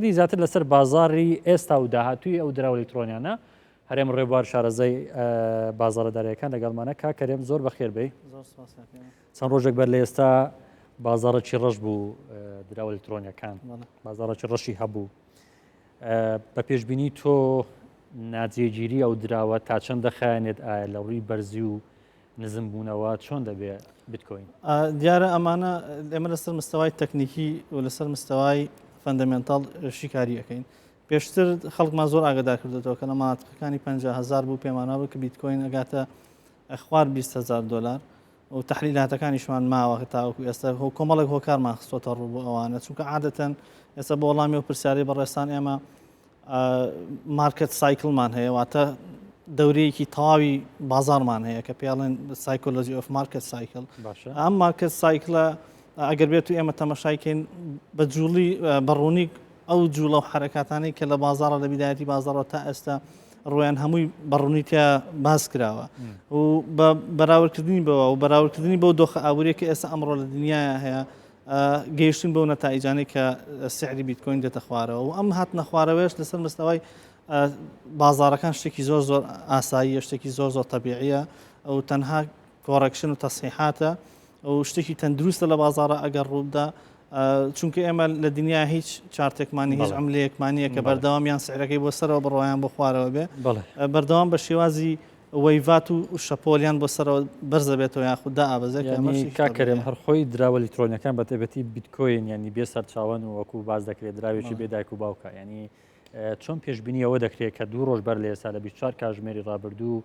ی زیاتر لەسەر بازاڕی ئێستا و داهاتووی ئەو دراوە لەیکتڕۆنیانە. هەرێم ڕێبوار شارەزای بازاڕە دارایەکان لەگەڵمانە، کاک کەرێم زۆر بەخێر بێی. زۆر سوپاس کاک هێمن. چەند ڕۆژێک بەر لە ئێستا بازاڕێکی ڕەش بوو دراوە لەیکتڕۆنیەکان، بازاڕێکی ڕەشی هەبوو. بە پێشبینی تۆ ناجێگیری ئەو دراوە تا چەند دەخایەنێت؟ ئایا لە ڕووی بەرزی و نزم بوونەوە چۆن دەبێ بتکۆین؟ دیارە ئەمانە ئێمە لەسەر مستەوای تەکنیکی و لەسەر مستەوای فەندەمێنتال شیکاری ئەەکەین پێشتر خەڵکمان زۆر ئاگدا کردێتەوە کە لە ماتقەکانی 5هزار بوو پێمانەوە کە بیتکۆین ئەگاتە خوار 20هزار دلار و تحلیلاتەکانیشمان ماوە تاوەکو ئێستا هۆ کۆمەڵێک هۆکارمان خستۆتە ڕوو بۆ ئەوانە چونکە عادەتەن ئێستا بۆ وەڵامی و پرسیاری بەڕێستان ئێمە مارکێت سایکڵمان هەیە واتە دەورەیەکی تەواوی بازارمان هەیە کە پێڵێن سایکۆلۆژی ئۆف مارکت سایکل ئەم مارکت سایکلە ئەگەر بێت و ئێمە تەمەشایکەین بە جوڵی بەڕوونی ئەو جوڵە و حرکاتانی کە لە بازارە لە بیدایەتی بازارەوە تا ئێستا ڕویان هەمووی بەڕوونیتیا باس کراوە و بە بەراوردکردنی بەوە و بەراوردکردنی بۆ دۆخە ئابووری کە ئێستا ئەمڕۆ لە دنیاە هەیە گەیشتن بەو نەتائیجانەی کە سعری بیتکۆین دێتە خوارەوە و ئەم هاتنە خوارەوەش لەسەر مستەوای بازارەکان شتێکی زۆر زۆر ئاساییە شتێکی زۆر زۆر تەبیعە ئەو تەنها کۆڕکشن و تەسیحاتە ئەو شتێکی تەندروستە لە بازارە ئەگەر ڕووبدا چونکە ئێمە لە دنیا هیچ چارتێکمانی هیچ ئەم لەیەکمانە کە بەردەوامیان سعرەکەی بۆ سەرەوە بڕۆیان بۆ خوارەوە بێ بەردەوام بە شێوازی وەیڤات و شەپۆلیان بۆ سەرەوە بەرز دەبێتەوە یاخود دائەبەزێت کە ئەمەش یانی کاک کەرێم هەر خۆی دراوە لەترۆنیەکان بە تایبەتی بیتکۆین یانی بێ سەرچاوەن و وەکو باس دەکرێت دراوێکی بێ دایک و باوکە یانی چۆن پێشببینی ئەوە دەکرێت کە دوو ڕۆژ بەر لە ئێستا لە 24 کاژمێری ڕابردوو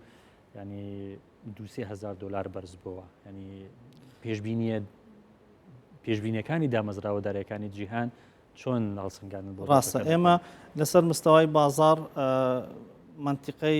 ینی دوسێ هزار دلار بەرز بووە ینی پێشببینیە پێشببینەکانی دامەزراوە دارەکانی جیهان چۆن هەڵسەنگان بۆ ڕاستە ئێمە لەسەر مستەوای بازار منتیقەی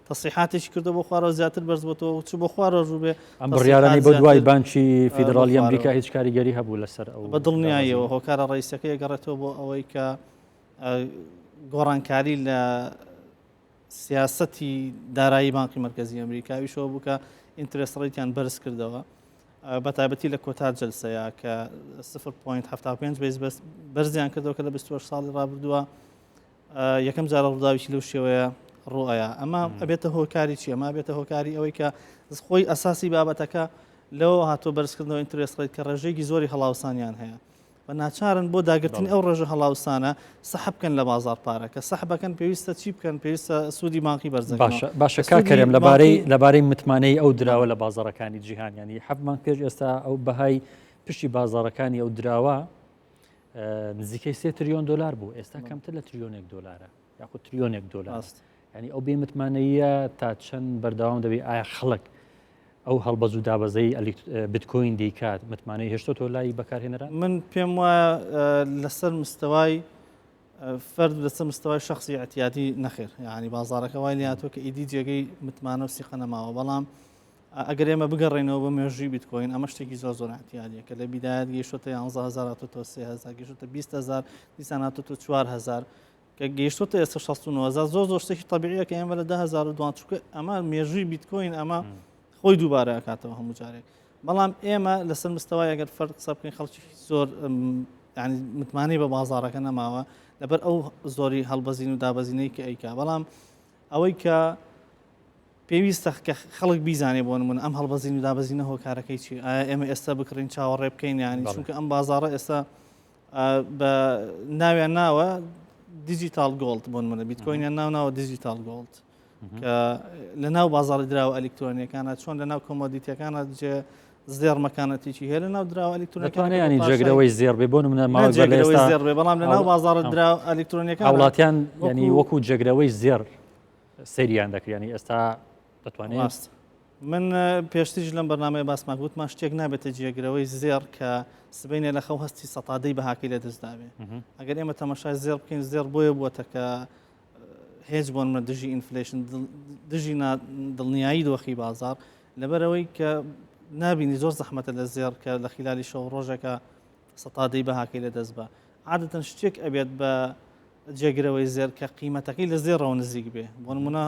تەسریحاتێکی کردوە بۆ خوارەوە زیاتر بەرز بۆتەوە و چوو بۆ خوارەوە ڕوو بێ ئەم بڕیارانەی بۆ دوای بانکی فیدڕاڵی ئەمریکا هیچ کاریگەری هەبوو لەسەر ئەو بە دڵنیاییەوە هۆکارە ڕئیسەکەی گەڕێتەوە بۆ ئەوەی کە گۆڕانکاری لە سیاستی دارایی بانقی مرکزی ئەمریکاویشەوە بووکە ئینترس ڕیتیان بەرز کردەوە بە تایبەتی لە کۆتا جلسەیە کە 0.75 بەرزیان کردەوە کە لە 24 ساڵی ڕابردووە یەکەم جارە ڕووداوێکی لەو شێوەیە ڕوئەیە ئەمە ئەبێتە هۆکاری چی ئەمە بێتە هۆکاری ئەوەی کە خۆی ئەساسی بابەتەکە لەو هاتۆ بەرزکردنەوە ئینترێس ڕێت کە ڕێژێکی زۆری هەڵاوسانیان هەیە بە ناچارن بۆ داگرتن ئەو ڕێژە هەڵاوسانە سەحب بکەن لە بازار پارە کە سەحبەکەن پێویستە چی بکەن پێویستە سوودی بانقی بەرز باشە باشە کا کەرم لەبارەی لەبارەی متمانەی ئەو دراوە لە بازارەکانی جیهانیانی حەبمان پێش ئێستا ئەو بەهای پشتی بازارەکانی ئەو دراوە نزیکەی سێ تریۆن دلار بوو ئێستا کەمتر لە تریۆنێک دلارە یاخود تریۆنێک دلار ینی ئەو بێ متمانەیە تا چەند بەردەوام دەبێت ئایا خەڵک ئەو هەڵبەز و دابەزەی بتکۆین دەیکات متمانەی هێشتۆ تۆ لای بەکارهێنەرە من پێم وایە لەسەر مستەوای فرد لەسە مستەوای شخصی ئەتیادی نەخێر ینی بازارەکە وای لاتۆ کە ئیدی جێگەی متمانە و سیقە نەماوە بەڵام ئەگەر ئێمە بگەڕێنەوە بۆ مێژووی بیتکۆین ئەمە شتێکی زۆر زۆر ئەتیادە کە لە بیداەت گەیشتە یانزهزار تۆ سهزار گەشتە بیهزار دیسان هاتۆ تۆ چوارهزار کە گەیشتە ئێستا 16 زۆر زۆر شتێکی طببیە کە ئێمە لە دههزار دوان چکە ئەمە مێژووی بیتکۆین ئەمە خۆی دووبارە کاتەوە هەموو جارێک بەڵام ئێمە لەسەر مستەوای ئەگەر فەر قسە بکەین خەڵکی زۆر ینی متمانەی بە بازارەکە نەماوە لەبەر ئەو زۆری هەڵبەزین و دابەزینەی کە ئەیکا بەڵام ئەوەی کە پێویستە کە خەڵک بیزانێ بۆ نمونە ئەم هەڵبەزین و دابەزینە هۆکارەکەی چی ئایا ئێمە ئێستا بکڕین چاوەڕێ بکەین یانی چونکە ئەم بازارە ئێستا بە ناویان ناوە دیجیتال گۆڵد بۆن منە بیتکۆینیان ناو ناوە دیجیتال گۆڵد کە لە ناو بازاری دراوە ئەلکترۆنیەکانە چۆن لە ناو کۆمۆدیتەکانە جێ زێڕ مەکانەتیی هەیە لە ناو دراوە ئەلیکترۆنەکانیانی جێگرەوەی زێڕ بێ بۆ منە ماوە جێگرەوەی زێڕ بێ بەڵام لە ناو بازاڕە درا ئەلیکترۆنیەکە وڵاتیان ینی وەکو جێگرەوەی زێڕ سریان دەکرێنی ئێستا دەتوانێت ماست من پێشتیش لەم بەنامەیە باسمان گوتمان شتێک نابێتە جێگرەوەی زێڕ کە سبینێ لە خەو هەستی سەتادەی بەهاکەی لە دەستداوێ ئەگەر ئێمە تەمەشای زێڕ بکەین زێڕ بۆیە بووە کە هێج بۆنمە دژی ئینفلشن دژی دڵنیایی دۆخی بازار لەبەرەوەی کە نبینی زۆر زەحمەتە لە زێر کە لە خلالی شەو ڕۆژەکە سەتادەی بەهاکەی لە دەست بە عادەتەن شتێک ئەبێت بە جێگرەوەی زێر کە قیمەتەکەی لە زێڕەوە نزیک بێ بۆ نمونە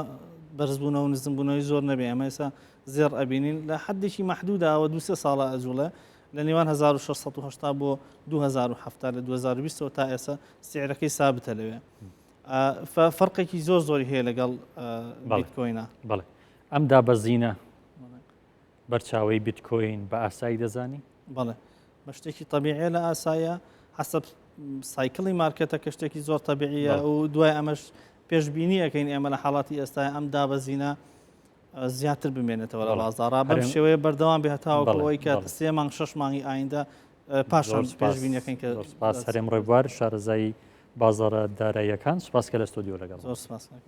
بەرزبوونەوە و نزمبوونەوەی زۆر نەبێ ئەمە ئێسا زێر ئەبینین لە حدێکی محدودداوە دو سێ ساڵە ئەجوڵە لە نێوان 1680 بۆ 2070 لە 2020 تا ئێستا سعرەکەی سابتە لەوێ فەرقێکی زۆر زۆری هەیە لەگەڵ بیتکۆینە بڵێ ئەم دابەزینە بەرچاوی بیتکۆین بە ئاسایی دەزانی بڵێ بە شتێکی طببیعە لە ئاسایە حسب سایکڵی مارکێتە کە شتێکی زۆر طببیعە و دوای ئەمەش پێشببینی ئەەکەین ئێمە لە حاڵاتی ئێستا ئەم دابەزینە زیاتر بمێنێتەوە لە بازارڕا بەم شێوەیە بەردەوام بێتاوەەوەی کە سێ مانگ شش مانگی ئایندا پاشان پێشبینەکەین کە سپاس هەرێم ڕێبوار شارەزایی بازارە داراییەکان سپاس کە لە ستۆدیۆ لەگەڵ سپاس.